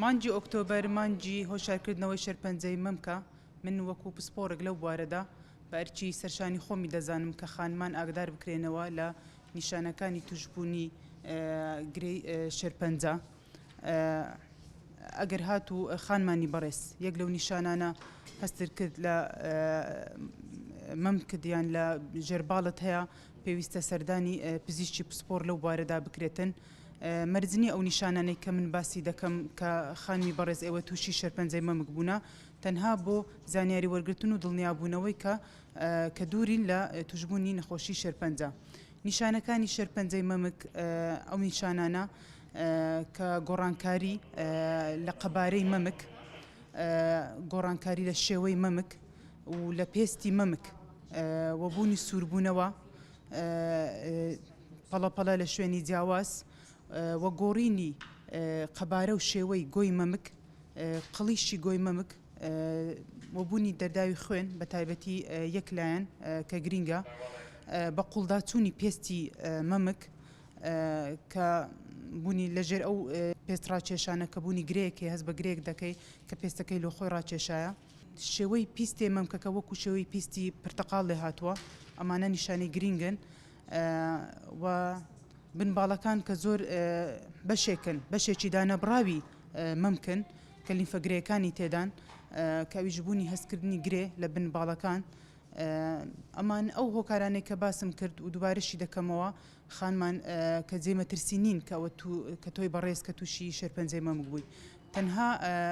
مانگی ئۆکتۆبەر مانگی هۆشیارکردنەوەی شێرپەنجەی مەمکە، من وەکو پسپۆڕێک لەو بوارەدا بە ئەرکی سەرشانی خۆمی دەزانم کە خانمان ئاگدار بکرێنەوە لە نیشانەکانی توشبوونی گرێی شێرپەنجە ئەگەر هاتوو خانمانی بەڕێز یەک لەو نیشانانە هەستت کرد لە مەمکت یان لە ژێرباڵت هەیە پێویستە سەردانی پزیشکی پسپۆڕ لەو بوارەدا بکرێتن. مەرج نییە ئەو نیشانانەی کە من باسی دەکەم کە خانمی بەڕێز ئێوە تووشی شێرپەنجەی مەمک بوونە تەنها بۆ زانیاری وەرگرتن و دڵنیابوونەوەی کە کە دوورین لە توشببوونی نەخۆشی شێرپەنجە نیشانەکانی شێرپەنجەی مەمک ئەو نیشانانە کە گۆڕانکاری لە قەبارەی مەمک گۆڕانکاری لە شێوەی مەمک و لە پێستی مەمک وەبوونی سووربوونەوە پەڵەپەڵە لە شوێنی جیاواز و گۆڕینی قەبارە و شێوەی گۆی مەمک، قڵیشی گۆی مەمک و بوونی دەرداوی خوێن بە تایبەتی یەک لایەن کە گرینگە، بە قوڵداچوونی پێستی مەمک کە بوونی لەژێر ئەو پێست ڕاکێشانە کە بوونی گرێیەک هەیە هەست بە گرێیەک دەکەی کە پێستەکەی لۆ خۆی ڕاکێشایە. شێوەی پیستێ مەمکەکە وەکو شێوەی پیستی پرتەقاڵ لێهاتووە ئەمانە نیشانەی گرینگن و بن باڵەکان کە زۆر بەشێکن بەشێکی دانەبڕاوی مەمکن کە لیمفە گرێەکانی تێدان کەویش بوونی هەستکردنی گرێ لە بن باڵەکان ئەمان ئەو هۆکارانەی کە باسم کرد و دوبارەشی دەکەمەوە خانمان کە جێمەترسی نین کەوە کە تۆی بەڕێز کە تووشی شێرپەنجەی مەمک بووی تەنها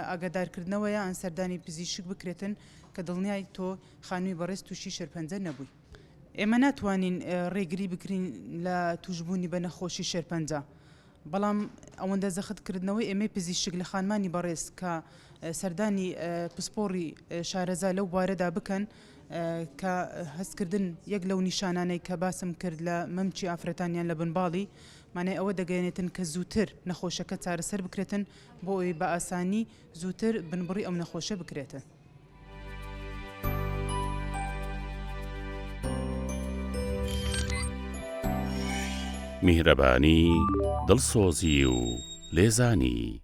ئاگادارکردنەوەیە ان سەردانی پزیشک بکرێتن کە دڵنیای تۆ خانمی بەڕێز توشی شێرپەنجە نەبووی. ئێمە ناتوانین ڕێگری بکرین لە توشبوونی بە نەخۆشی شێرپەنجە بەڵام ئەوەندە زەخت کردنەوەی ئێمەی پزیشک لە خانمانی بەڕێز کە سەردانی پسپۆڕی شارەزا لەو بوارەدا بکەن کە هەستکردن یەک لەو نیشانانەی کە باسم کرد لە مەمکی ئافرەتان یان لە بنباڵی مانای ئەوە دەگەیەنێتن کە زووتر نەخۆشەکە چارەسەر بکرێتن بۆ ئەوەی بە ئاسانی زووتر بنبڕی ئەو نەخۆشە بکرێتن. میهرەبانی، دڵسۆزی و لێزانی.